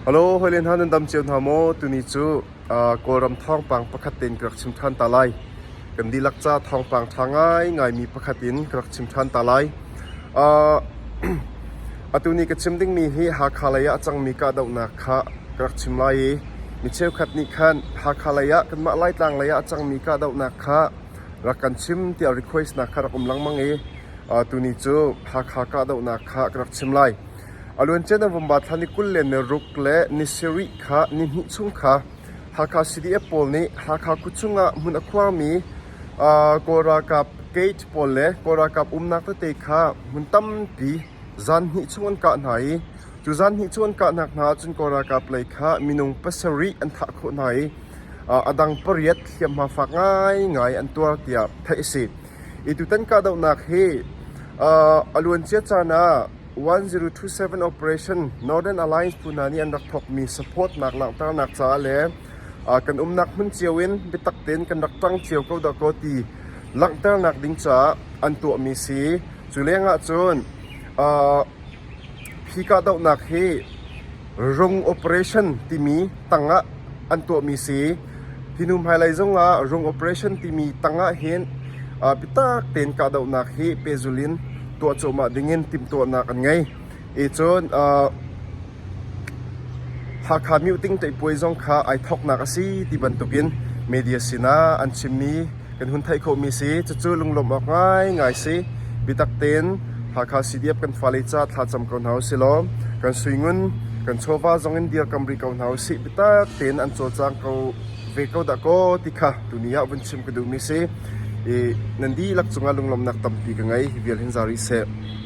Halo, hawile hna nan dam cio hna maw? Tuni cu Kawlram thawngpang pakhat tein ka rak chim ṭhan ta lai. Kan dihlak ca thawngpang ṭha ngaingaimi pakhat in ka rak chim ṭhan ta lai. Atu nih ka chim dingmi hi Hakha lei ah a cangmi kahdohnak kha ka rak chim lai i mi cheukhat nih khan Hakha lei ah kanmah Laitlang lei ah a cangmi kahdohnak kha rak kan chim tiah request nak kha rak um lengmang i tuni cu Hakha kahdohnak kha ka rak chim lai. A luancia na vamva thla ni kul le ni ruk le ni sarih kha ni hnih chung kha Hakha CDF pawl nih Hakha kut chungah hmun a khuarmi Kawl ralkap gate pawl le Kawl ralkap umnak tete kha hmun tampi zan hnih chung an kah hna i cu zan hnih chung an kahnak hna ahcun Kawl ralkap lei kha minung pasarih an thah khawh hna i a dang pariat hliamhma fak ngaingai an tuar tiah theih a si. Hi tutan kahdohnak hi a luancia caan ah 1027 Operation Northern Alliance phu hna nih an rak thawkmi supportnak langhternak caah le kan umnak hmun cio in biatak tein kan rak ṭang cio ko dah kaw ti langhternak ding caah an tuahmi si. Cu lengah cun hi kahdohnak hi Rung operation timi tangah an tuahmi si. Hi hnu hmailei zongah rung operation timi tangah hin uh, biatak tein kahdohnak hi pehzul in tuah cuahmah dingin timhtuahnak an ngei. E cun uh, Hakha Mute Teihpuai zong kha ai thawknak a si ti bantukin media sinah an chimmi kan hun theih khawhmi si. Cucu lunglawmh awk ngaingai si. Biatak tein Hakha CDF kan fale ca thlacam ko hna usih law kan suingun, kan chawva zong in dirkam rih ko hna usih. Biatak tein an cawlcang ko ve ko dah kaw ti kha tuni ah vun chim ka duhmi si. I nan dihlak cungah lunglawmhnak tampi ka ngei. Vial hin za rih seh.